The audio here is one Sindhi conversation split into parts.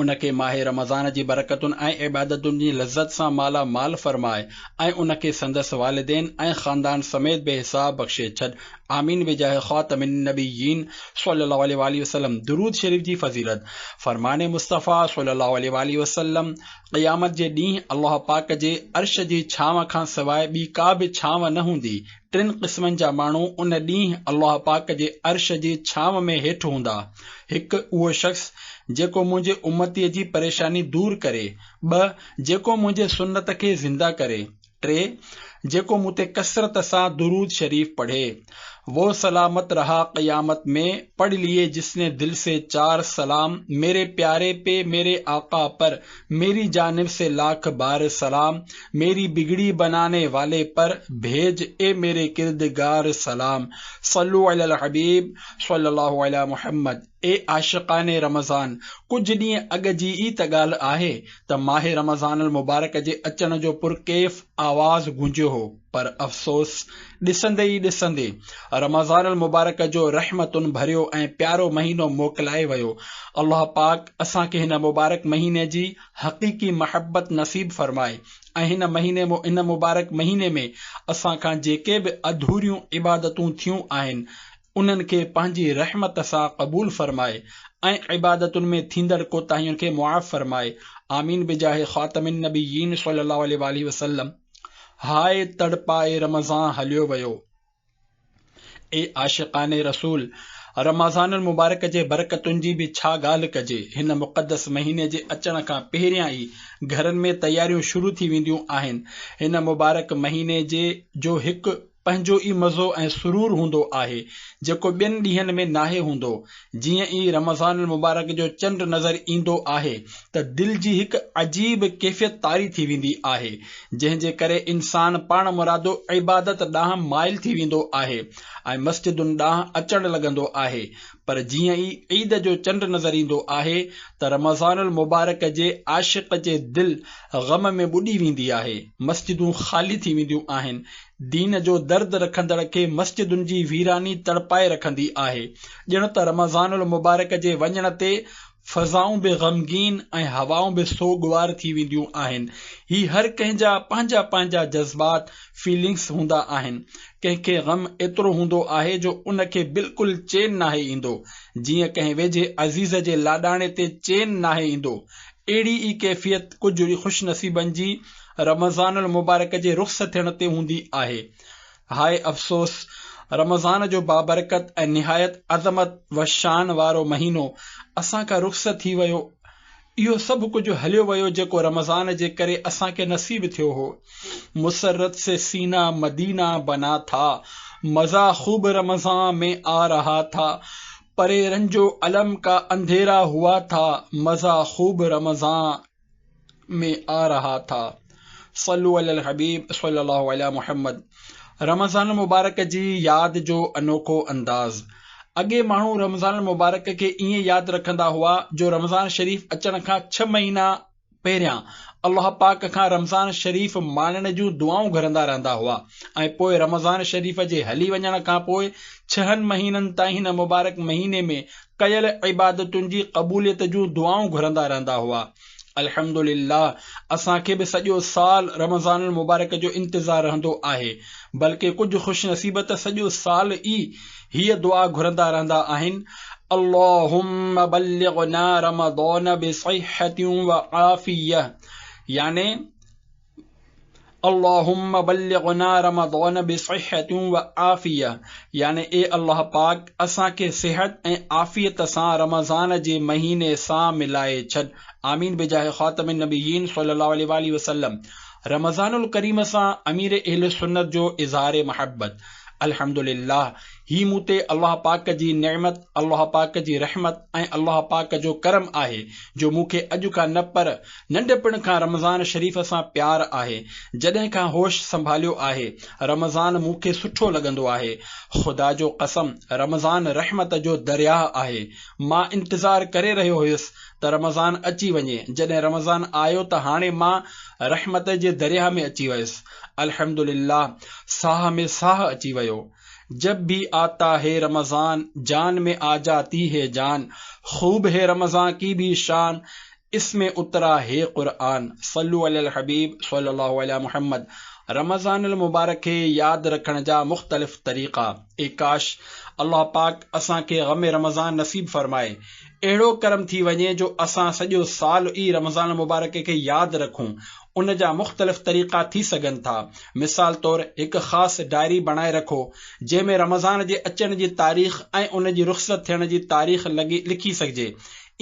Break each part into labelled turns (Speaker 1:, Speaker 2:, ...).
Speaker 1: ان کي ماهه رمضان جي برڪتن ۽ عبادتن جي لذت سان مالا مال فرماء ۽ ان کي سندس والدين ۽ خاندان سميت بي حساب بخشي ڇڏ آمين بجاه خاتم النبيين صلّي الله عليه واٰله وسلّم درود شريف جي فضيلت، فرمان مصطفٰي صلّي الله عليه واٰله وسلّم، قيامت جي ڏينهن الله پاڪ جي عرش جي ڇانو کان سواء ٻي ڪا به ڇانو نه هوندي، ٽن قسمن جا ماڻهو ان ڏينهن الله پاڪ جي عرش جي ڇانو ۾ هيٺ هوندا، هڪ اهو شخص جيڪو منهنجي امتيء جي پريشاني دور ڪري، ٻه جيڪو منهنجي سنت کي زنده ڪري، ٽي جيڪو مون تي ڪثرت سان درود شريف پڙهي. وو سلامت رها قيامت مين، پڙهه ليئي جس ني دل سي چار سلام، ميري پياري پي ميري آقا پر، ميري جانب سي لاک بار سلام ميري بگڙي بناني والي پر ڀيج اي ميري ڪردگار سلام صلو علي الحبيب صلي الله علي محمد اي عاشقان رمضان ڪجهه ڏينهن اڳ جي ئي ته ڳالهه آهي ته ماهه رمضان المبارڪ جي اچڻ جو پرڪيف آواز گونجيو هو پر افسوس، ڏسندي ئي ڏسندي رمضان المبارڪ جو رحمتن ڀريو ۽ پيارو مهينو موڪلائي ويو. الله پاڪ اسان کي هن مبارڪ مهيني جي حقيقي محبت نصيب فرمائي ۽ هن مهيني هن مبارڪ مهيني ۾ اسان کان جيڪي به اڌوريون عبادتون ٿيون آهن انهن کي پنهنجي رحمت سان قبول فرمائي ۽ عبادتن ۾ ٿيندڙ ڪوتاهين کي معاف فرمائي آمين بجاهه خاتم النبيين صلي الله عليه واٰله وسلم. هاء تڙپائي رمضان هليو ويو. اي عاشقان رسول! رمضان المبارڪ جي برڪتن جي به ڇا ڳالهه ڪجي. هن مقدس مهيني جي اچڻ کان پهريان ئي گهرن ۾ تياريون شروع ٿي وينديون آهن. هن مبارڪ مهيني جي جو هڪ. پنهنجو ئي مزو ۽ سرور هوندو آهي، جيڪو ٻين ڏينهن ۾ ناهي هوندو. جيئن ئي رمضان المبارڪ جو چنڊ نظر ايندو آهي ته دل جي هڪ عجيب ڪيفيت طاري ٿي ويندي آهي، جنهن جي ڪري انسان پاڻمرادو عبادت ڏانهن مائل ٿي ويندو آهي ۽ مسجدن ڏانهن اچڻ لڳندو آهي، پر جيئن ئي عيد جو چنڊ نظر ايندو آهي ته رمضان المبارڪ جي عاشق جي دل غم ۾ ٻڏي ويندي آهي، مسجدون خالي ٿي وينديون آهن، دين جو درد رکندڙ کي مسجدن جي ويراني تڙپائي رکندي آهي، ڄڻ ته رمضان المبارڪ جي وڃڻ تي فضائون به غمگين ۽ هوائون به سوڳوار ٿي وينديون آهن. هي هر ڪنهن جا پنهنجا پنهنجا جذبات، Feelings، هوندا آهن. ڪنهن کي غم ايترو هوندو آهي جو ان کي بلڪل چين ناهي ايندو. جيئن ڪنهن ويجهي عزيز جي لاڏاڻي تي چين ناهي ايندو. اهڙي ئي ڪيفيت ڪجهه خوشنصيبن جي رمضان المبارڪ جي رخصت ٿيڻ تي هوندي آهي. هاء افسوس! رمضان جو بابرڪت ۽ نهايت عظمت و شان وارو مهينو اسان کان رخصت ٿي ويو. اهو سڀ ڪجهه هليو ويو جيڪو رمضان جي ڪري اسان کي نصيب ٿيو هو. مسرت سي سينا مدينا بنا ٿا، مزا خوب رمضان مين آ رها ٿا، پري رنجو الم ڪا انڌيرا هوا ٿا، مزا خوب رمضان. ۾ آ رها ٿا صلو علي الحبيب صلي الله علي محمد رمضان المبارڪ جي ياد جو انوکو انداز اڳي ماڻهو رمضان المبارڪ کي ائين ياد رکندا هئا جو رمضان شريف اچڻ کان ڇهه مهينا پهريان الله پاڪ کان رمضان شريف ماڻڻ جون دعائون گهرندا رهندا هئا ۽ پوء رمضان شريف جي هلي وڃڻ کان پوء ڇهن مهينن تائين هن مبارڪ مهيني ۾ ڪيل عبادتن جي قبوليت جون دعائون گهرندا رهندا هئا. الحمد لله اسان کي به سڄو سال رمضان المبارڪ جو انتظار رهندو آهي، بلڪه ڪجهه خوش نصيب ته سڄو سال ئي هيء دعا گهرندا رهندا آهن، اللهم بلغنا رمضان بصحة وعافية يعني، اللهم بلغنا رمضان بصحة وعافية يعني اي الله پاڪ اسان کي صحت ۽ عافيت سان رمضان جي مهيني سان ملائي ڇڏ آمين بجاه خاتم النبيين صلي الله عليه واٰله وسلم رمضان الڪريم سان امير اهل سنت جو اظهار محبت الحمد لله هي مون تي الله پاڪ جي نعمت الله پاڪ جي رحمت ۽ الله پاڪ جو ڪرم آهي جو مون کي اڄ کان نه پر ننڍپڻ کان رمضان شريف سان پيار آهي جڏهن کان هوش سنڀاليو آهي رمضان مون کي سٺو لڳندو آهي خدا جو قسم رمضان رحمت جو درياهه آهي مان انتظار ڪري رهيو هيس ته رمضان اچي وڃي جڏهن رمضان آيو ته هاڻي مان رحمت جي درياهه ۾ اچي ويس الحمدلله ساهه ۾ ساهه اچي ويو جب ڀي آتا هي رمضان جان ۾ آجاتي هي جان خوب هي رمضان ڪي ڀي شان اس مين اترا هي قرآن صلو علي الحبيب صلي الله علي محمد رمضان المبارڪ کي ياد رکڻ جا مختلف طريقا اي ڪاش الله پاڪ اسان کي غم رمضان نصيب فرمائي اهڙو ڪرم ٿي وڃي جو اسان سڄو سال ئي رمضان المبارڪ کي ياد رکون ان جا مختلف طريقا ٿي سگهن ٿا مثال طور هڪ خاص ڊائري بڻائي رکو جنهن ۾ رمضان جي اچڻ جي تاريخ ۽ ان جي رخصت ٿيڻ جي تاريخ لکي سگهجي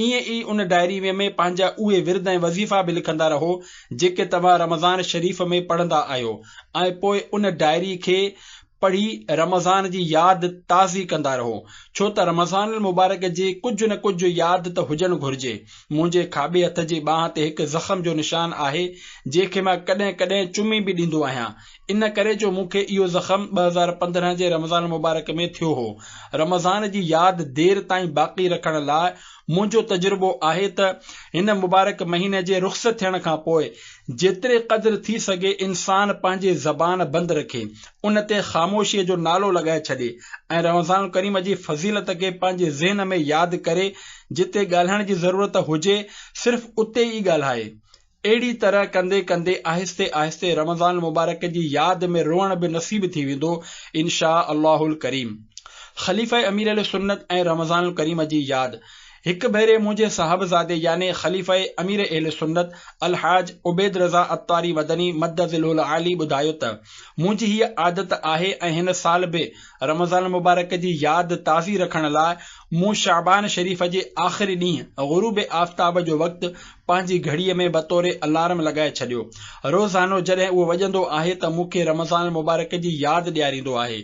Speaker 1: ائين ئي ان ڊائري ۾ ۾ پنهنجا اهي ورد ۽ وظيفا به لکندا رهو جيڪي توهان رمضان شريف ۾ پڙهندا آهيو ۽ پوء ان ڊائري کي پڙهي رمضان جي ياد تازي ڪندا رهو ڇو ته رمضان المبارڪ جي ڪجهه نه ڪجهه ياد ته هجڻ گهرجي منهنجي کاٻي هٿ جي ٻانهن تي هڪ زخم جو نشان آهي جنهن کي مان ڪڏهن ڪڏهن چمي به ڏيندو آهيان ان ڪري جو مون کي اهو زخم ٻه هزار پندرهن جي رمضان المبارڪ ۾ ٿيو هو. رمضان جي ياد دير تائين باقي رکڻ لاء منهنجو تجربو آهي ته هن مبارڪ مهيني جي رخصت ٿيڻ کان پوء جيتري قدر ٿي سگهي انسان پنهنجي زبان بند رکي، ان تي خاموشيء جو نالو لڳائي ڇڏي ۽ رمضان الڪريم جي فضيلت کي پنهنجي ذهن ۾ ياد ڪري جتي ڳالهائڻ جي ضرورت هجي صرف اتي ئي ڳالهائي. اهڙي طرح ڪندي ڪندي آهستي آهستي رمضان مبارڪ جي ياد ۾ روئڻ به نصيب ٿي ويندو انشاء الله الڪريم. خليفه امير اهل سنت ۽ رمضان الڪريم جي ياد. هڪ ڀيري منهنجي صاحبزادي يعني خليفه امير اهل سنت الحاج عبيد رضا عطاري مدني مد ظله العالي ٻڌايو ته، منهنجي هيء عادت آهي ۽ هن سال به رمضان مبارڪ جي ياد تازي رکڻ لاء مون شعبان شريف جي آخري ڏينهن غروب آفتاب جو وقت پنهنجي گهڙيء ۾ بطور الارم لڳائي ڇڏيو. روزانو جڏهن اهو وڄندو آهي ته مون کي رمضان المبارڪ جي ياد ڏياريندو آهي.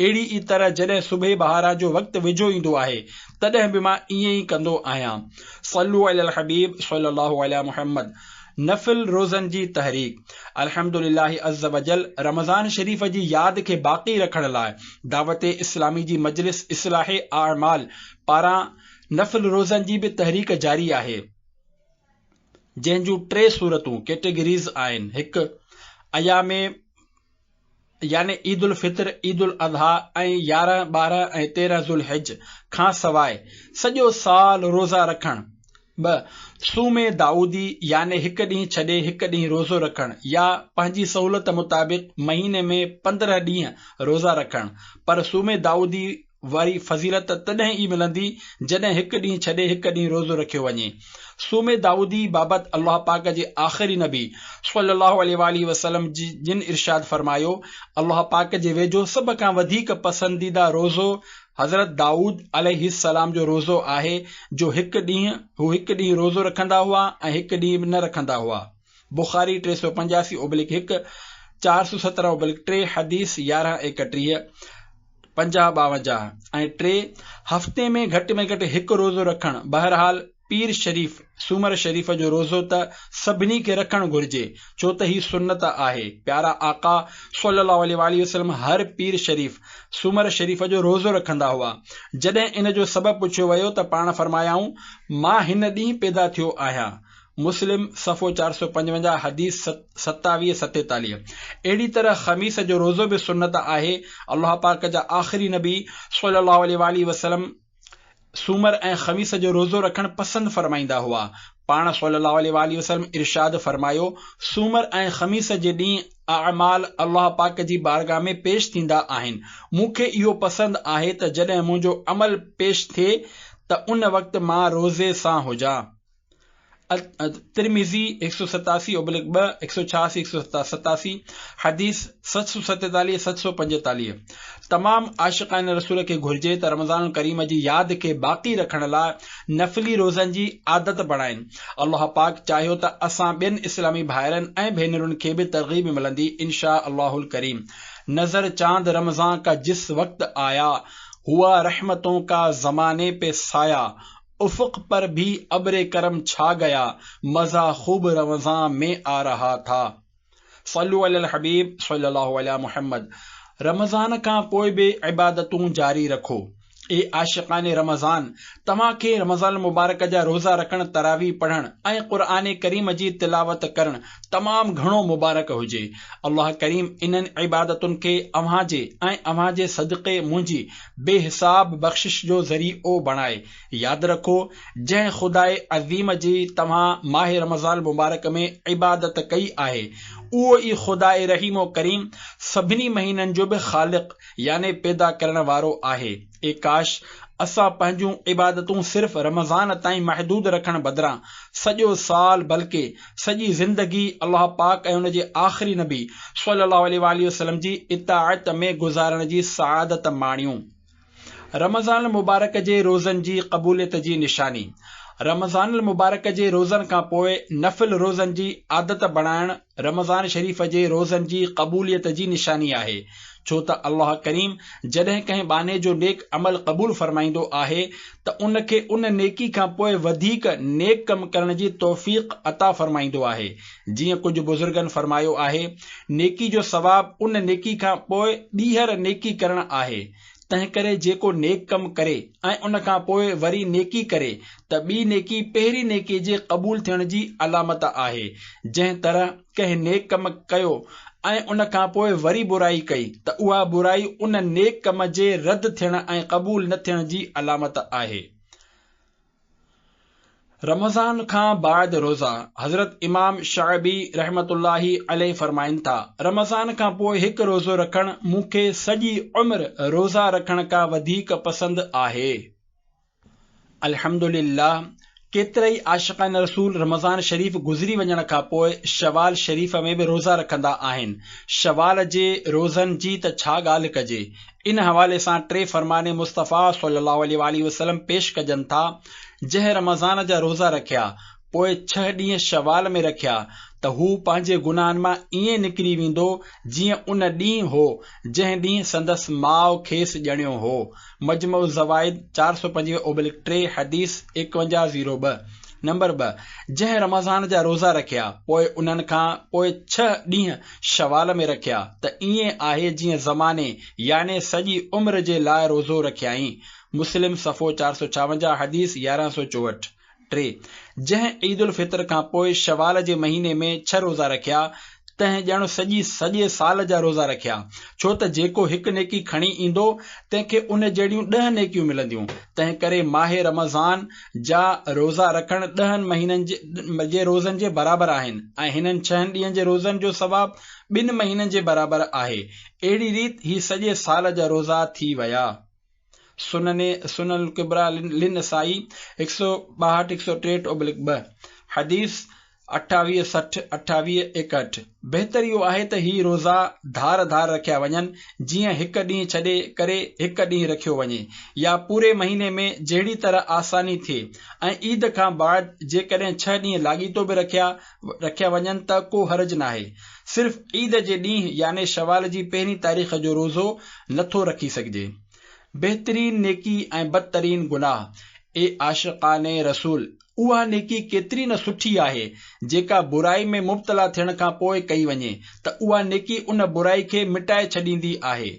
Speaker 1: اهڙي ئي طرح جڏهن صبح بهاران جو وقت ويجهو ايندو آهي، تڏهن به مان ائين ئي ڪندو آهيان. صلو علي الحبيب صلي الله علي محمد نفل روزن جي تحريڪ، الحمد لله عزّوجلّ رمضان شريف جي ياد کي باقي رکڻ لاء دعوت اسلامي جي مجلس اصلاح اعمال پاران نفل روزن جي به تحريڪ جاري آهي. جنهن جون ٽي صورتون، Categories، آهن، هڪ، ايام، يعني عيد الفطر، عيد الاضحيٰ ۽ يارهن، ٻارهن ۽ تيرهن ذوالحج کان سواء سڄو سال روزا رکڻ، ٻه، صوم دائودي، يعني هڪ ڏينهن ڇڏي هڪ ڏينهن روزو رکڻ يا پنهنجي سهولت مطابق مهيني ۾ پندرهن ڏينهن روزا رکڻ، پر صوم دائودي، واري فضيلت تڏهن ئي ملندي جڏهن هڪ ڏينهن ڇڏي هڪ ڏينهن روزو رکيو وڃي. صوم داؤدي بابت الله پاڪ جي آخري نبي صلّي اللّٰه عليه واٰله وسلّم جن ارشاد فرمايو، الله پاڪ جي ويجهو سڀ کان وڌيڪ پسنديده روزو حضرت دائود عليه السّلام جو روزو آهي جو هڪ ڏينهن هو هڪ ڏينهن روزو رکندا هئا ۽ هڪ ڏينهن نه رکندا هئا. بخاري ٽي سؤ پنجاسي اوبلڪ هڪ، چار سؤ سترهن اوبلڪ ٽي، حديث يارهن ايڪٽيهه، پنجاهه ٻاونجاهه ۽ ٽي، هفتي ۾ گهٽ ۾ گهٽ هڪ روزو رکڻ، بهرحال پير شريف، سومر شريف جو روزو ته سڀني کي رکڻ گهرجي، ڇو ته هي سنت آهي، پيارا آقا صلّي اللّٰه عليه واٰله وسلّم هر پير شريف، سومر شريف جو روزو رکندا هئا، جڏهن ان جو سبب پڇيو ويو ته پاڻ فرمايائون، مان هن ڏينهن پيدا ٿيو آهيان، مسلم، صفحو چار سؤ پنجونجاهه، حديث ستاويهه ستيتاليهه، اهڙي طرح خميس جو روزو به سنت آهي، الله پاڪ جا آخري نبي صلّي الله عليه واٰله وسلّم سومر ۽ خميس جو روزو رکڻ پسند فرمائيندا هئا، پاڻ صلّي الله عليه واٰله وسلّم ارشاد فرمايو، سومر ۽ خميس جي ڏينهن اعمال الله پاڪ جي بارگاهه ۾ پيش ٿيندا آهن، مون کي اهو پسند آهي ته جڏهن منهنجو عمل پيش ٿئي ته ان وقت مان روزي سان هجان. الترمذي ايڪ سؤ ستاسي اوبلڪ ٻه ايڪ سؤ ڇياسي ايڪ سؤ ستاسي حديث ست سو ستيتاليهه ست سؤ پنجيتاليهه تمام عاشقان رسول کي گهرجي ته رمضان الڪريم جي ياد کي باقي رکڻ لاء نفلي روزن جي عادت بڻائين الله پاڪ چاهيو ته اسان ٻين اسلامي ڀائرن ۽ ڀينرن کي به ترغيب ملندي ان شاء الله الڪريم نظر چاند رمضان ڪا جس وقت آيا هوا رحمتون ڪا زماني پي سايا افق پر ڀي ابر ڪرم ڇا گيا مزا خوب روزان مين آ رها ٿا صلو علي الحبيب صلي الله علي محمد رمضان کان پوء به عبادتون جاري رکو اي عاشقان رمضان توهان کي رمضان المبارڪ جا روزا رکڻ تراويح پڙهڻ ۽ قرآن ڪريم جي تلاوت ڪرڻ تمام گهڻو مبارڪ هجي الله ڪريم انهن عبادتن کي اوهان جي ۽ اوهان جي صدقي منهنجي بي حساب بخشش جو ذري عو بڻائي. ياد رکو، جنهن خداء عظيم جي توهان ماه رمضان المبارڪ ۾ عبادت ڪئي آهي، اهو ئي خداء رحيم و ڪريم سڀني مهينن جو به خالق يعني پيدا ڪرڻ وارو آهي. اي ڪاش! اسان پنهنجون عبادتون صرف رمضان تائين محدود رکڻ بدران سڄو سال بلڪه سڄي زندگي الله پاڪ ۽ ان جي آخري نبي صلّي اللّٰه عليه واٰله وسلّم جي اطاعت ۾ گذارڻ جي سعادت ماڻيون. رمضان المبارڪ جي روزن جي قبوليت جي نشاني، رمضان المبارڪ جي روزن کان پوء نفل روزن جي عادت بڻائڻ رمضان شريف جي روزن جي قبوليت جي نشاني آهي. ڇو ته الله ڪريم جڏهن ڪنهن ٻانهي جو نيڪ عمل قبول فرمائيندو آهي ته ان کي ان نيڪي کان پوء وڌيڪ نيڪ ڪم ڪرڻ جي توفيق عطا فرمائيندو آهي جيئن ڪجهه بزرگن فرمايو آهي نيڪي جو ثواب ان نيڪي کان پوء ٻيهر نيڪي ڪرڻ آهي تنهنڪري جيڪو نيڪ ڪم ڪري ۽ ان کان پوء وري نيڪي ڪري ته ٻي نيڪي پهرين نيڪي جي قبول ٿيڻ جي علامت آهي. جنهن طرح ڪنهن نيڪ ڪم ڪيو ۽ ان کان پوء وري برائي ڪئي ته اها برائي ان نيڪ ڪم جي رد ٿيڻ ۽ قبول نه ٿيڻ جي علامت آهي. رمضان کان بعد روزا، حضرت امام شعبي رحمة الله عليه فرمائن ٿا، رمضان کان پوء هڪ روزو رکڻ مون کي سڄي عمر روزا رکڻ کان وڌيڪ پسند آهي. الحمدلله ڪيترائي عاشقان رسول رمضان شريف گذري وڃڻ کان پوء شوال شريف ۾ به روزا رکندا آهن. شوال جي روزن جي ته ڇا ڳالهه ڪجي. ان حوالي سان ٽي فرمان مصطفيٰ صلّي اللّٰه عليه واٰله وسلّم پيش ڪجن ٿا، جنهن رمضان جا روزا رکيا، پوء ڇهه ڏينهن شوال ۾ رکيا ته هو پنهنجي گناهن مان ائين نڪري ويندو جيئن ان ڏينهن هو، جنهن ڏينهن سندس ماء کيس ڄڻيو هو. مجمع الزوائد چار سؤ پنجويهه اوبلڪ ٽي، حديث ايڪونجاهه زيرو ٻه، نمبر ٻه، جنهن رمضان جا روزا رکيا، پوء انهن کان پوء ڇهه ڏينهن شوال ۾ رکيا ته ائين آهي جيئن زماني يعني سڄي عمر جي لاء روزو رکيائين، مسلم صفحو چار سؤ ڇاونجاهه حديث يارهن سؤ چوهٺ، ٽي جنهن عيد الفطر کان پوء شوال جي مهيني ۾ ڇهه روزا رکيا تنهن ڄڻ سڄي سڄي سال جا روزا رکيا ڇو ته جيڪو هڪ نيڪي کڻي ايندو تنهن کي ان جهڙيون ڏهه نيڪيون ملنديون تنهن ڪري ماهه رمضان جا روزا رکڻ ڏهن مهينن جي روزن جي برابر آهن ۽ هنن ڇهن ڏينهن جي روزن جو ثواب ٻن مهينن جي برابر آهي. اهڙي ريت هي سڄي سال جا روزا ٿي ويا. سنن سنن الڪبريٰ للنسائي هڪ سؤ ٻاهٺ هڪ سؤ ٽيهٺ اوبلڪ ٻه، حديث اٺاويهه سٺ اٺاويهه ايڪهٺ بهتر اهو آهي ته هي روزا ڌار ڌار رکيا وڃن جيئن هڪ ڏينهن ڇڏي ڪري هڪ ڏينهن رکيو وڃي يا پوري مهيني ۾ جهڙي طرح آساني ٿئي ۽ عيد کان بعد جيڪڏهن ڇهه ڏينهن لاڳيتو به رکيا رکيا وڃن ته ڪو حرج ناهي صرف عيد جي ڏينهن يعني شوال جي پهرين تاريخ جو روزو نٿو رکي سگهجي بهترين نيڪي ۽ بدترين گناهه اي عاشقان رسول! اها نيڪي ڪيتري نه سٺي آهي، جيڪا برائي ۾ مبتلا ٿيڻ کان پوء ڪئي وڃي ته اها نيڪي ان برائي کي مٽائي ڇڏيندي آهي.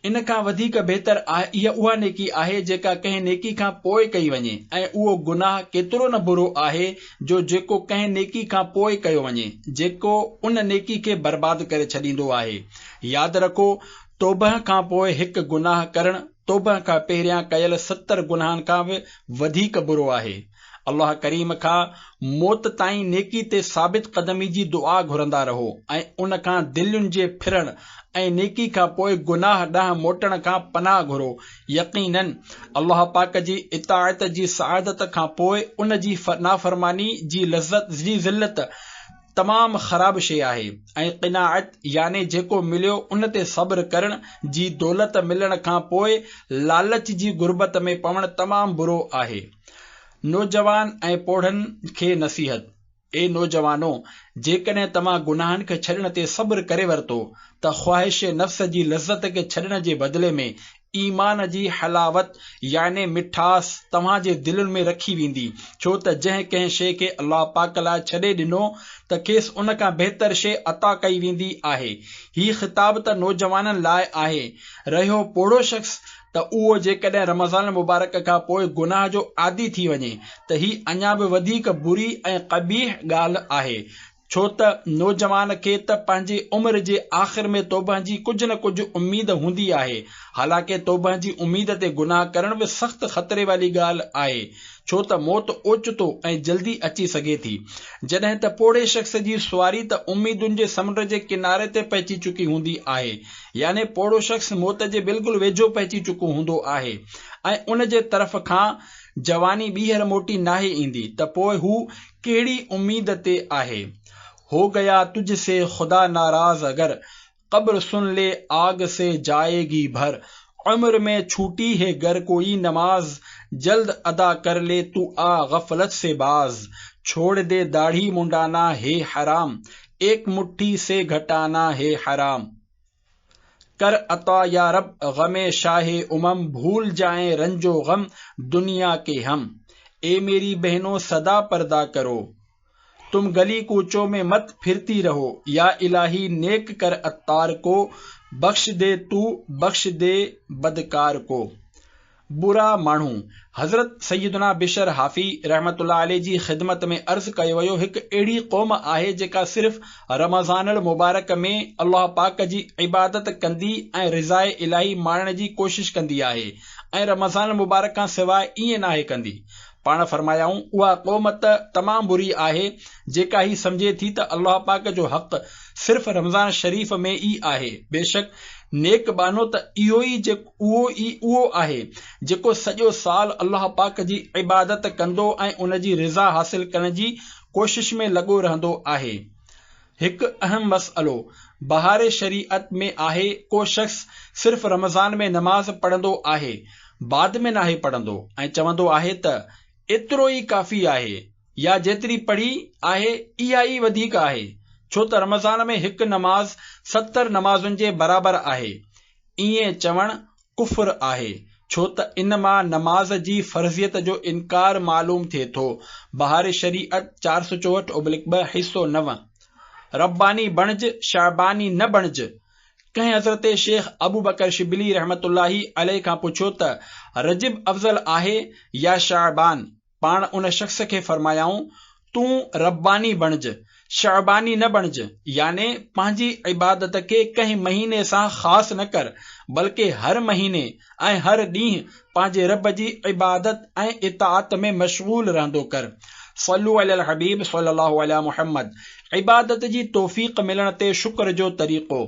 Speaker 1: ان کان وڌيڪ بهتر اها اها نيڪي آهي جيڪا ڪنهن نيڪي کان پوء ڪئي وڃي ۽ اهو گناهه ڪيترو نه برو آهي جو جيڪو ڪنهن نيڪي کان پوء ڪيو وڃي، جيڪو ان نيڪي کي برباد ڪري ڇڏيندو آهي. ياد رکو، توبهه کان پوء هڪ گناهه ڪرڻ، توبه کان پهريان ڪيل ستر گناهن کان به وڌيڪ برو آهي. الله ڪريم کان موت تائين نيڪي تي ثابت قدمي جي دعا گهرندا رهو ۽ ان کان دلين جي ڦرڻ ۽ نيڪي کان پوء گناهه ڏانهن موٽڻ کان پناهه گهرو، يقيناً الله پاڪ جي اطاعت جي سعادت کان پوء ان جي نافرماني جي لذت جي ذلت، تمام خراب شيء آهي ۽ قناعت يعني جيڪو مليو ان تي صبر ڪرڻ جي دولت ملڻ کان پوء لالچ جي غربت ۾ پوڻ تمام برو آهي. نوجوان ۽ پوڙهن کي نصيحت، اي نوجوانو! جيڪڏهن توهان گناهن کي ڇڏڻ تي صبر ڪري ورتو ته خواهش نفس جي لذت کي ڇڏڻ جي بدلي ۾ ايمان جي حلاوت يعني مٺاس توهان جي دلين ۾ رکي ويندي، ڇو ته جنهن ڪنهن شيء کي الله پاڪ لاء ڇڏي ڏنو ته کيس ان کان بهتر شيء عطا ڪئي ويندي آهي. هي خطاب ته نوجوانن لاء آهي. رهيو پوڙهو شخص ته اهو جيڪڏهن رمضان المبارڪ کان پوء گناهه جو عادي ٿي وڃي ته هي اڃا به وڌيڪ بري ۽ قبيح ڳالهه آهي ڇو ته نوجوان کي ته پنهنجي عمر جي آخر ۾ توبهه جي ڪجهه نه ڪجهه اميد هوندي آهي، حالانڪه توبهه جي اميد تي گناهه ڪرڻ به سخت خطري واري ڳالهه آهي، ڇو ته موت اوچتو ۽ جلدي اچي سگهي ٿي. جڏهن ته پوڙهي شخص جي سواري ته اميدن جي سمنڊ جي ڪناري تي پهچي چڪي هوندي آهي، يعني پوڙهو شخص موت جي بلڪل ويجهو پهچي چڪو هوندو آهي ۽ ان جي طرف کان جواني ٻيهر موٽي ناهي ايندي ته پوء هو ڪهڙي اميد تي آهي. هو گيا تجھ سي خدا ناراض اگر، قبر سن لي آگ سي جائي گي ڀر، عمر مين ڇوٽي هي گر ڪوئي نماز، جلد ادا ڪر لي تو آ غفلت سي باز، ڇوڙ دي داڙهي منڊانا هي حرام، ايڪ مٺي سي گهٽانا هي حرام. ڪر عطا يا رب غم شاهه امم ڀول جائين رنج و غم دنيا ڪي هم اي ميري بهنو سدا پردا ڪرو تم گلي ڪوچو مين مت ڦرتي رهو يا الاهي نيڪ ڪر عطار ڪو بخش دي تو بخش دي بدڪار ڪو. برا ماڻهو حضرت سيدنا بشر حافي رحمة الله عليه جي خدمت ۾ عرض ڪيو ويو هڪ اهڙي قوم آهي جيڪا صرف رمضان المبارڪ ۾ الله پاڪ جي عبادت ڪندي ۽ رضاء الاهي ماڻڻ جي ڪوشش ڪندي آهي ۽ رمضان المبارڪ کان سواء ائين ناهي ڪندي پاڻ فرمايائون، اها قوم ته تمام بري آهي، جيڪا هي سمجهي ٿي ته الله پاڪ جو حق صرف رمضان شريف ۾ ئي آهي، بيشڪ نيڪ ٻانهو ته اهو ئي اهو ئي اهو آهي، جيڪو سڄو سال الله پاڪ جي عبادت ڪندو ۽ ان جي رضا حاصل ڪرڻ جي ڪوشش ۾ لڳو رهندو آهي. هڪ اهم مسئلو بهار شريعت ۾ آهي، ڪو شخص صرف رمضان ۾ نماز پڙهندو آهي، بعد ۾ ناهي پڙهندو ۽ چوندو آهي ته ايترو ئي ڪافي آهي يا جيتري پڙهي آهي اها ئي وڌيڪ آهي، ڇو ته رمضان ۾ هڪ نماز ستر نمازن جي برابر آهي، ائين چوڻ ڪفر آهي، ڇو ته ان مان نماز جي فرضيت جو انڪار معلوم ٿئي ٿو، بهار شريعت چار سؤ چوهٺ اوبلڪ ٻه، حصو نو، رباني بڻج، شعباني نه بڻج، ڪنهن حضرت شيخ ابوبڪر شبلي رحمة الله عليه کان پڇيو ته رجب افضل آهي يا شعبان؟ پاڻ ان شخص کي فرمايائون، تون رباني بڻج، شعباني نه بڻج، يعني پنهنجي عبادت کي ڪنهن مهيني سان خاص نه ڪر، بلڪ هر مهيني ۽ هر ڏينهن پنهنجي رب جي عبادت ۽ اطاعت ۾ مشغول رهندو ڪر. صلو علي الحبيب صلي الله علي محمد عبادت جي توفيق ملڻ تي شڪر جو طريقو،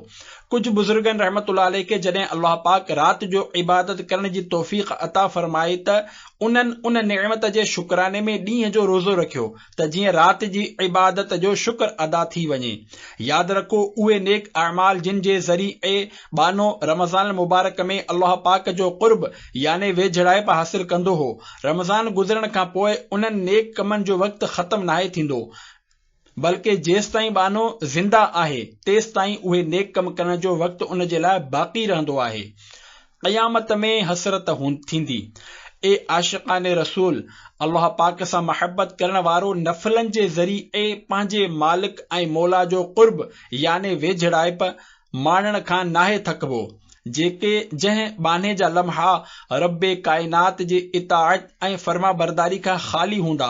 Speaker 1: ڪجهه بزرگن رحمة الله عليه کي جڏهن الله پاڪ رات جو عبادت ڪرڻ جي توفيق عطا فرمائي ته انهن ان نعمت جي شڪراني ۾ ڏينهن جو روزو رکيو ته جيئن رات جي عبادت جو شڪر ادا ٿي وڃي. ياد رکو اهي نيڪ اعمال جن جي ذريعي ٻانهو رمضان المبارڪ ۾ الله پاڪ جو قرب يعني ويجهڙائپ حاصل ڪندو هو، رمضان گذرڻ کان پوء انهن نيڪ ڪمن جو وقت ختم ناهي ٿيندو. بلڪه جيستائين ٻانهو زنده آهي تيستائين اهي نيڪ ڪم ڪرڻ جو وقت ان جي لاء باقي رهندو آهي. قيامت ۾ حسرت ٿيندي. اي عاشقان رسول! الله پاڪ سان محبت ڪرڻ وارو نفلن جي ذريعي پنهنجي مالڪ ۽ مولا جو قرب يعني ويجهڙائپ، ماڻڻ کان ناهي ٿڪبو، جيڪي جنهن ٻانهي جا لمحا رب ڪائنات جي اطاعت ۽ فرمانبرداري کان خالي هوندا،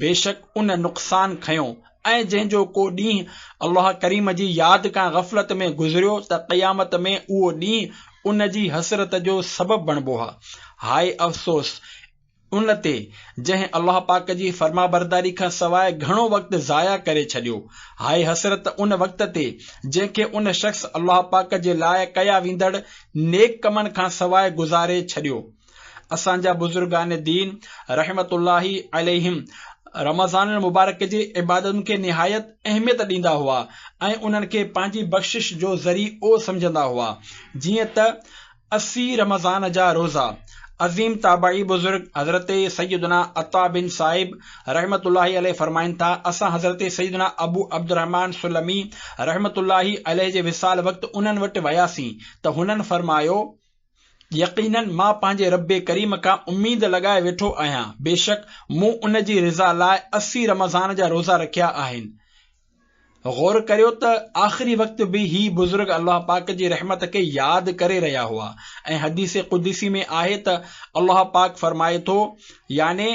Speaker 1: بيشڪ ان نقصان کنيو ۽ جنهن جو ڪو ڏينهن الله ڪريم جي ياد کان غفلت ۾ گذريو ته قيامت ۾ اهو ڏينهن ان جي حسرت جو سبب بڻبو ها. هاء افسوس! ان تي، جنهن الله پاڪ جي فرمانبرداري کان سواء گهڻو وقت ضايع ڪري ڇڏيو. هاء حسرت ان وقت تي، جنهن کي ان شخص الله پاڪ جي لاء ڪيا ويندڙ نيڪ ڪمن کان سواء گذاري ڇڏيو. اسان جا بزرگان دين رحمة الله عليهم رمضان المبارڪ جي عبادتن کي نهايت اهميت ڏيندا هئا ۽ انهن کي پنهنجي بخشش جو ذريعو سمجهندا هئا، جيئن ته اسي رمضان جا روزا عظيم تابعي بزرگ حضرت سيدنا عطاء بن صائب رحمة الله عليه فرمائن ٿا، اسان حضرت سيدنا ابو عبدالرحمان سلمي رحمة الله عليه جي وصال وقت انهن وٽ وياسين ته هنن فرمايو، يقيناً مان پنهنجي ربّ ڪريم کان اميد لڳائي ويٺو آهيان، بيشڪ مون ان جي رضا لاء اسي رمضان جا روزا رکيا آهن، غور ڪريو ته آخري وقت به هي بزرگ الله پاڪ جي رحمت کي ياد ڪري رهيا هئا ۽ حديث قدسي ۾ آهي ته الله پاڪ فرمائي ٿو يعني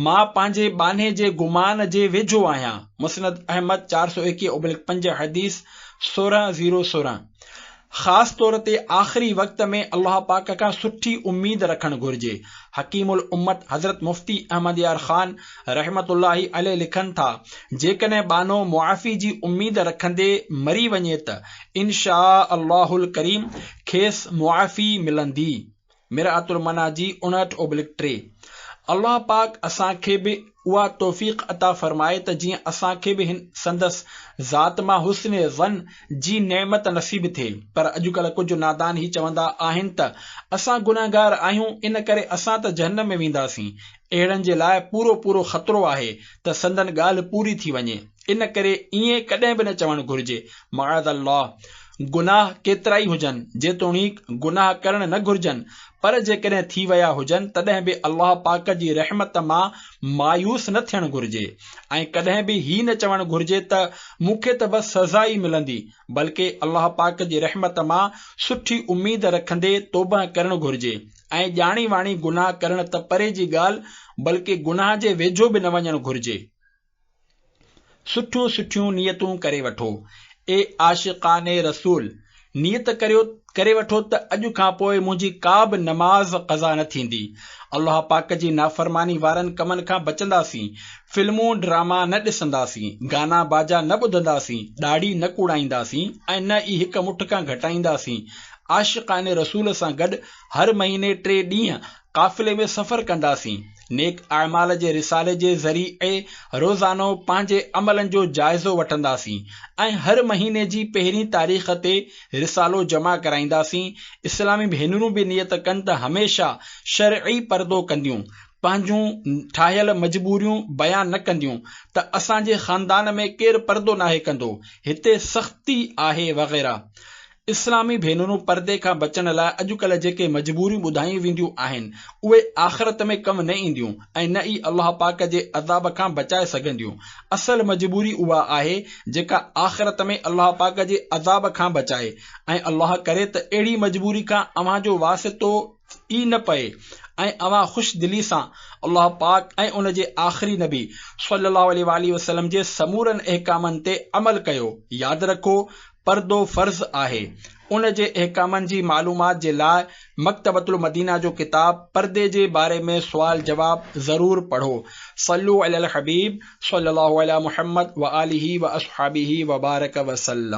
Speaker 1: مان پنهنجي ٻانهي جي گمان جي ويجهو آهيان، مسند احمد چار سؤ ايڪيهه اوبلڪ پنج حديث سورهن زيرو سورهن. خاص طور تي آخري وقت ۾ الله پاڪ کان سٺي اميد رکڻ گهرجي. حڪيم الامت حضرت مفتي احمد يار خان رحمة الله عليه لکن ٿا، جيڪڏهن ٻانهو معافي جي اميد رکندي مري وڃي ته ان شآء الله الڪريم کيس معافي ملندي. مرآت المنيٰ جي اڻهٺ اوبلڪ ٽي. الله پاڪ اسان کي به اها توفيق عطا فرمائي ته جيئن اسان کي به هن سندس ذات مان حسن ظن جي نعمت نصيب ٿئي. پر اڄڪلهه ڪجهه نادان هي چوندا آهن ته اسان گنهگار آهيون ان ڪري اسان ته جهنم ۾ وينداسين. اهڙن جي لاء پورو پورو خطرو آهي ته سندن ڳالهه پوري ٿي وڃي. ان ڪري ائين ڪڏهن به نه چوڻ گهرجي. معاذ الله! گناهه ڪيترائي هجن، جيتوڻيڪ گناهه ڪرڻ نه گهرجن، پر جيڪڏهن ٿي ويا هجن تڏهن به الله پاڪ جي رحمت مان مايوس نه ٿيڻ گهرجي ۽ ڪڏهن به هي نه چوڻ گهرجي ته مون کي ته بس سزا ئي ملندي، بلڪه الله پاڪ جي رحمت مان سٺي اميد رکندي توبهه ڪرڻ گهرجي ۽ ڄاڻي واڻي گناهه ڪرڻ ته پري جي ڳالهه بلڪه گناهه جي ويجهو به نه وڃڻ گهرجي. سٺيون سٺيون نيتون ڪري وٺو اي عاشقان رسول نيت ڪريو ڪري وٺو ته اڄ کان پوء منهنجي ڪا به نماز قضا نه ٿيندي الله پاڪ جي نافرماني وارن ڪمن کان بچنداسين فلمون ڊراما نه ڏسنداسين گانا باجا نه ٻڌنداسين ڏاڙهي نه ڪوڙائينداسين ۽ نه ئي هڪ مٺ کان گهٽائينداسين عاشقان رسول سان گڏ هر مهيني ٽي ڏينهن قافلي ۾ سفر ڪنداسين نيڪ اعمال جي رسالي جي ذريعي روزانو پنهنجي عملن جو جائزو وٺنداسين ۽ هر مهيني جي پهرين تاريخ تي رسالو جمع ڪرائينداسين، اسلامي ڀينرون به نيت ڪن ته هميشه شرعي پردو ڪنديون، پنهنجون ٺاهيل مجبوريون بيان نه ڪنديون ته اسان جي خاندان ۾ ڪير پردو ناهي ڪندو، هتي سختي آهي وغيره. اسلامي ڀينرون پردي کان بچڻ لاء اڄڪلهه جيڪي مجبوريون ٻڌايون وينديون آهن، اهي آخرت ۾ ڪم نه اينديون ۽ نه ئي الله پاڪ جي عذاب کان بچائي سگهنديون. اصل مجبوري اها آهي، جيڪا آخرت ۾ الله پاڪ جي عذاب کان بچائي ۽ الله ڪري ته اهڙي مجبوري کان اوهان جو واسطو ئي نه پئي ۽ اوهان خوش دلي سان الله پاڪ ۽ ان جي آخري نبي صلّي اللّٰه عليه واٰله وسلّم جي سمورن احڪامن تي عمل ڪيو. ياد رکو پردو فرض آهي. ان جي احڪامن جي معلومات جي لاء مڪتبة المدينة جو ڪتاب پردي جي باري ۾ سوال جواب ضرور پڙهو. صلو علی الحبيب صلي الله علی محمد وآله وآصحابه وبارڪ وسلم.